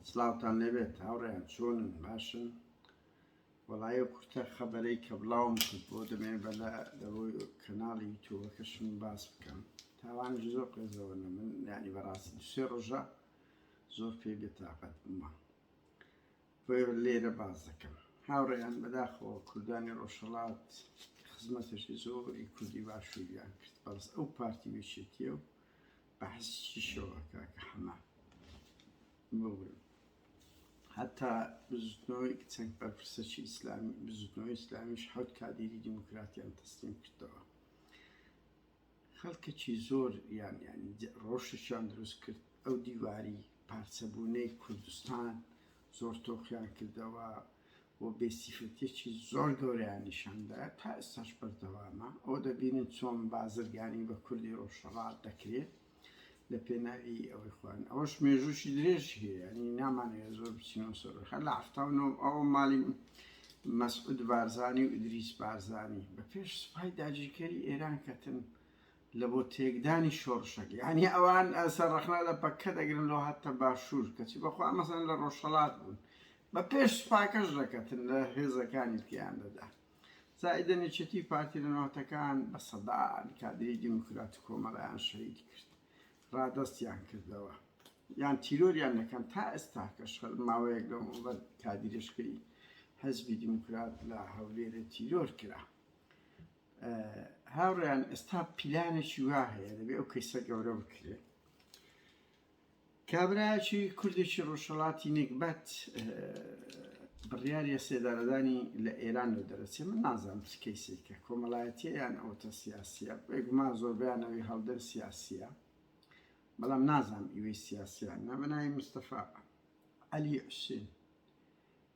سڵاوتان لێبێت هاوڕێیان چۆنن باشن وەڵایە کورتە خەبەرەی کە بڵاوم کرد بۆ دەمێن بەلا لەوەی کەناڵی یوتوبەکەشم باس بکەم تاوان زۆر قێزەوە نە من ینی بەڕاستی دوسێ ڕۆژە زۆر پێ بێتاقەت بمە بۆ لێرە باز دەکەم هاوڕێیان بەداخەوە کوردانی ڕۆژهڵات خزمەتێکی زۆری کوردی باشووریان کرد بەڵس ئەو پارتی وێچێتیە و بەحسی چی شەوە کاکە حەمە بڵێ هەتا بزوتنەوەی چەند بەرپرسەکی ئیسلامی بزوتنەوەی ئیسلامیش حوت کادیری دیموکراتیان تەسلیم کردەوە خەڵکەکی زۆر یان ینی ڕۆشتشان دروست کرد ئەو دیواری پارچەبوونەی کوردستان زۆر تۆخیان کردەوە و بێ سیفەتیەکی زۆر گەورەیان نیشان دا تا ئێستاش بەردەوامە ئەوە دەبینن چۆن بازرگانی بە کوردی ڕۆژهەڵات دەکرێت لە پێناوی ئەوەی خوان ئەوەش مێژووشی درێژ هەیە نی نامانەیە زۆر بچینەوە سەرخە لە هەفتاونەوە ئەوە ماڵی مەسعود بارزانانی و ئیدریس بارزانانی بە پێش سوپای داگیرکەری ئێران کەتن لە بۆ تێکدانی شۆڕشەک یعنی ئەوان ئەسەر ڕخنا لە پەکە دەگرن لە هاتە باشوور کەچی بەخوا مەسەن لە ڕۆژهڵات بوون بە پێش سوپاکەش ڕێکەتن لە هێزەکانی دیکەیان دەدا. زائیدەن یەکێتی پارتی لە ناوەتەکان بە سەدان کادری دیموکرات و کۆمەڵایان شەهید کرد. ڕادەستیان کردەوە. یان تیرۆریان دەکەن تا ئێستا کەش ماوەیەک لەم وڵەت کادیرشکەی حزبی دیموکرات لە هەولێرە تیرۆر کرا هاوڕیان ئێستا پیلانێکی وا هەیە دەبێ ئەو کەیسە گەورە بکرێت کابرایەکی کوردێکی ڕۆژهەڵاتی نێگبەت بڕیاریە سێدارەدانی لە ئێران و دەرەچێ من نازانم چ کەیسێکە کۆمەڵایەتیە یان ئەوتە سیاسیە بێگومان زۆربیانەوەی هەڵدەن سیاسیە بەڵام نازانم ئیوەی سیاسیان نەمنای مستەفا علی حوسێن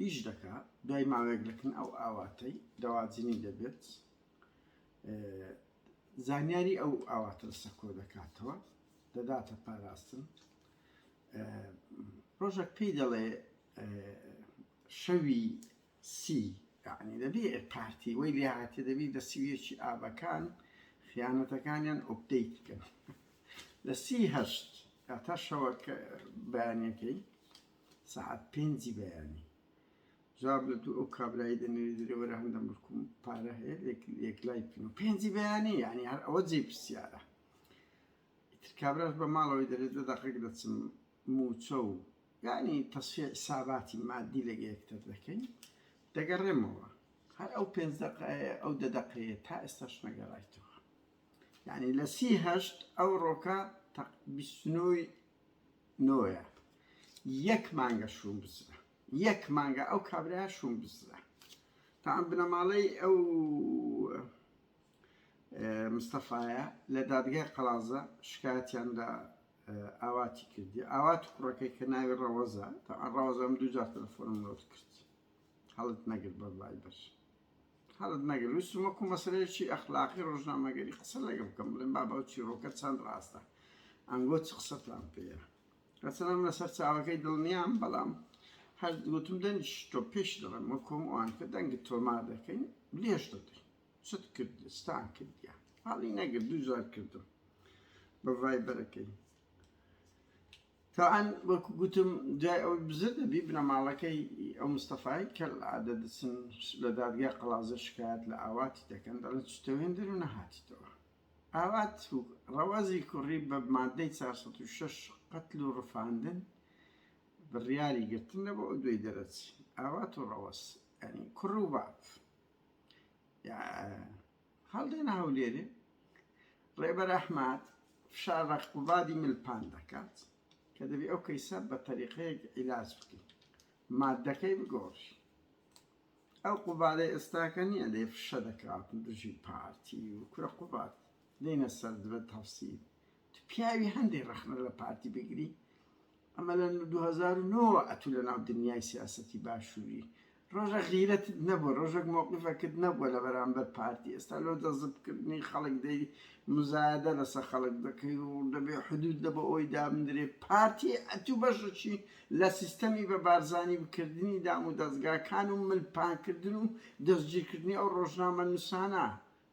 ئیش دەکا دوای ماوەیەک دەکن ئەو ئاواتەی دەواجنی دەبێت زانیاری ئەو ئاواتە سەکۆ دەکاتەوە دەداتە پاراستن ڕۆژێک پێی دەڵێ شەوی سی یعنی دەبێ پارتی وەی لێ هااتێ دەبی دە سویەکی ئابەکان خیانەتەکانیان ئۆپدەیت بکەن لە سی هەشت تا شەوە بەیانەکەی سەعات پێنجی بەیانی جواب لە دوو ئەو کابرایی دەنێری دەرێ وەرە هەندە ملکم پارە هەیە یەکلای پێ و پێنجی بەیانی یعنی هەر ئەوە جێ پرسیارە ئیتر کابراش بە ماڵەوەی دەرێت لە دەقێک دەچم موچە و یعنی تەسفیە حساباتی مادی لەگە یەکتر دەکەین دەگەڕێمەوە هەر ئەو پێنج دقەیە ئەو دە دقەیە تا ئێستاش نەگەڕایتەوە یعنی لە سی هەشت ئەو ڕۆکە تەق بیستنەوەی نۆیە یەک مانگە شوم بزرە یەک مانگە ئەو کابرا شوم بزرە تا ئەم بنەماڵەی ئەو مستەفاایە لە دادگای قەڵازە شکاتیان لە ئاواتی کردی ئاوات کوڕەکەی کە ناوی ڕەوەزە تا ئەڕەوەزەم دوجار تەلەفۆنم نۆت کرد هەڵت نەگر بە بای بەر هەڵت نەگرت ویستم وەکو مەسەلەیەکی ئەخلاقی ڕۆژنامەگەری قسە لەگەڵ بکەم بڵێم بابە ئەو چیڕۆکە چەند ڕاستە ئەنگۆ چ قسەتان پێیە هەرچەندە من لەسەر چاوەکەی دڵنیام بەڵام هەر گوتم دەنگیش تۆ پێش دەڵێم وەکۆم ئەوان کە دەنگت تۆمار دەکەین لێش دەدەین چت کرد ستان کردیان هەڵی نەگرت دوو جار کردم بە ڤایبەرەکەی تەبعەن وەکو گوتم دوای ئەوەی بزر دەبی بنەماڵەکەی ئەو مستەفای کەل عادە دەچن لە دادگای قەڵازە شکایەت لە ئاواتی دەکەن دەڵێن چتە هێندر و نەهاتیتەوە ئاوات ڕەوازی کوڕی بە مادەی 406 قەتل و ڕفاندن بڕیاری گرتن لە بۆ دوێی دەرەچی ئاوات و ڕەوەس ئەنی کوڕ و باپ هەڵدێن هەولێرێ ڕێبەر ئەحمەد فشار ڕە قوبادی ملپان دەکات کە دەبی ئەو کەیسە بە تەریقەیەک عیلاج بکەین مادەکەی بگۆڕی ئەو قوبادە ئێستاکە نییە لێ فشە دەکات دژی پارتی و کورە قوبات دێنە سەر دبێت تەفسیل پیاوی هەندێک ڕەخنە لە پارتی بگری ئەمە لە دوو هەزار و نۆ وە ئەتوو لە ناو دنیای سیاسەتی باشووری ڕۆژە غیرەتت نەبووە ڕۆژەک مەوقیفەکت نەبووە لە بەرامبەر پارتی ئێستا لۆ جەزب کردنی خەڵک دەی مزایەدە لەسە خەڵک دەکەی و دەبێ حدود لە بۆ ئەوەی دابنرێ پارتی ئەتوو بەشەکی لە سیستەمی بە بارزانی بکردنی دام و دەزگاکان و ملپانکردن و دەستگیرکردنی ئەو ڕۆژنامە نووسانە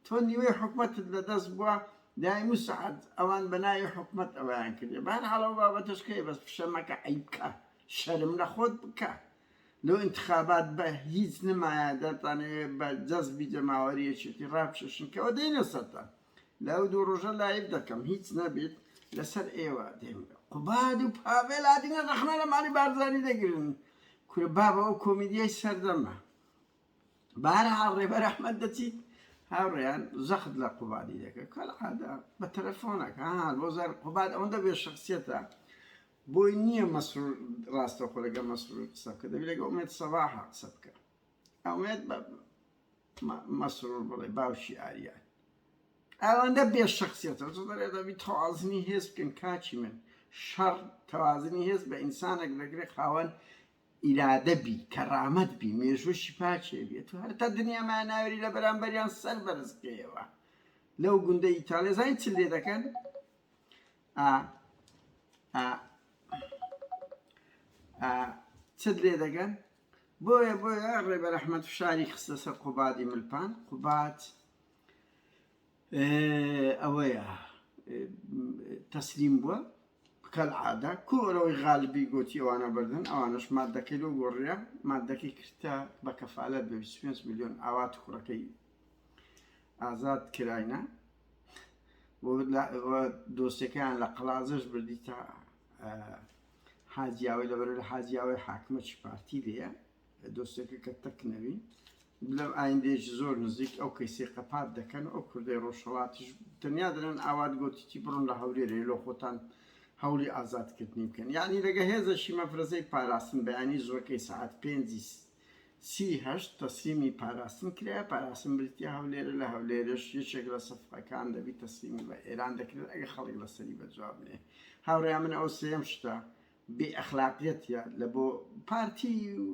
تۆ نیوەی حکومەتت لە دەست بوە دایم و سەعات ئەوان بە ناوی حکومەت ئەوەیان کردیە بە هەر حاڵ ئەو بابەتەش کەیە بەس فشە مەکە عەیب کە شەرم لە خۆت بکە لۆ ئینتخابات بە هیچ نمایە دەتانەوێ بە جەزبی جەماوەری یەکێتی ڕابکێشن کەوە دێنە سەرتان لە ئەو دوو ڕۆژە لایڤ دەکەم هیچ نەبیت لەسەر ئێوە دێم قوباد و پاڤێل هاتینە ڕەخنە لە ماڵی بارزانی دەگرن کورە بابە ئەو کۆمیدیای سەردەمە بەهەرحاڵ ڕێبەر ئەحمەد دەچیت هاوڕێیان زەخت لە قوبادی دەکە کەلعادا بە تەلەفۆنەکە بۆ زار قوباد ئەوەندە بێ شخصیەتە بۆی نییە مەسرور ڕاستەخۆ لەگە مەسرور قسە بکە دەبی لەگە ئومێت سەباحە قسە بکە ئەومێت بە مەسرور بڵێ باوشی ئاریان ئەوەندە بێ شخصیەتە زۆ دەرێ دەبی تەوازنی هێز بکەن کاچی من شەڕ تەوازنی هێز بە ئینسانێک دەگرێت خاوەن ئیرادە بی کەرامەت بی مێژووشی پاکێ بێ تو هەر تا دنیا مایە ناوێری لە بەرامبەریان سەر بەرز بکەیەوە لەو گوندە ئیتاڵیا زانین چ لێ دەکەن ئا ئا ئا چت لێ دەگەن بۆیە بۆیە ڕێبەر ئەحمد فشاری خستە سەر قوبادی ملپان قوبات ئەوەیە تەسلیم بووە بکەل عادە کۆرەوەی غالبی گوتی ئەوانە بردن ئەوانش مادەکەی لۆ گۆڕە مادەکەی کرتە بە کەفاالت بە 25 میلیۆن ئاوات کوڕەکەی ئازاد کراینە دۆستەکان لە قەلازش بردی تا حاجیاوی لەبەر لە حاجیاوی حاکمەکی پارتی لە دۆسێکە کە تەک نەوی لە ئایندەیەکی زۆر نزیک ئەو کەیسی قەپات دەکەن ئەو کوردەی ڕۆژهڵاتیش تەنیا دەرێن ئاوات گۆتیی بڕۆن لە هەولێرێ لۆ خۆتان هەولی ئازادکردنی بکەن یعنی لەگە هێزەشی مەفرەزەی پاراستن بەیانی زوەکەی سعات پێنجی سی هەشت تەسلیمی پاراستن کرایە پاراستن بریتە هەولێرە لە هەولێرش یەکێک لە سەفەکان دەبی تەسلیمی بە ئێران دەکرێت ئەگە خەڵک لەسەری بەجوابنێ هاوڕێ من ئەو سێم شتە بێ ئەخلاقیەتیە لە بۆ پارتی و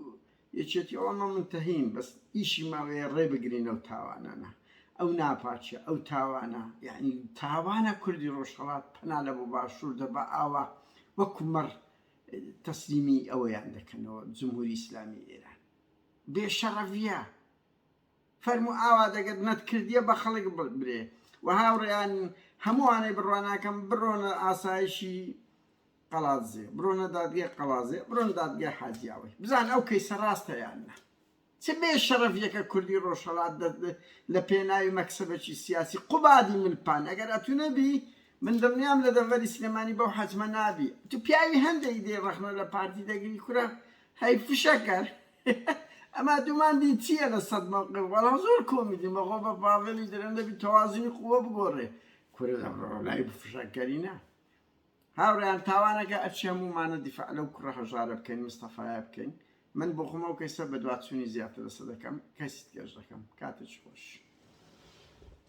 یەکێتی ئەوە مە منتەهین بەس ئیشی ماوەیە ڕێ بگرین ئەو تاوانانە ئەو ناپاچە ئەو تاوانە یعنی تاوانە کوردی ڕۆژهەڵات پەنا لە بۆ باشوور دەبا ئاوا وەکو مەڕ تەسلیمی ئەوەیان دەکەنەوە جمهوری ئیسلامی ئێران بێ شەڕەڤە فەرمو ئاوا دەگەت نەت کردیە بە خەڵک برێ و هاوڕێیان هەمووانەی بڕواناکەم بڕۆنە ئاسایشی قەڵادزێ بڕۆنە دادگای قەڵازێ بڕۆن دادگای حاجیاوەی بزان ئەو کەیسە ڕاستە یان نە چ بێ شەرەف یەکە کوردی ڕۆژهەڵات لە پێناوی مەکسبەکی سیاسی قوبادی ملپان ئەگەر ئەتو نەبی من دڵنیام لە دەڤەری سلێمانی بەو حەجمە نابی تو پیاوی هەندێک دێ ڕەخنە لە پارتی دەگری کورە هەی فشەکەر ئەما دومان دی چییە لە سەد مەوقع وەڵا زۆر کۆمیدی مەغۆ بە باڤێڵی درەندەبی تەوازنی قووە بگۆڕێ کورە لە ڕۆلای بفشەکەرینە هاوڕێیان تاوانەکە ئەچی هەموومانە دیفاع لەو کوڕە هەژارە بکەین مستەفایە بکەین من بۆخۆم ئەو کەیسە بەدواچوونی زیاتر لەسەر دەکەم کەیسی تکێش دەکەم کاتێکی خۆش.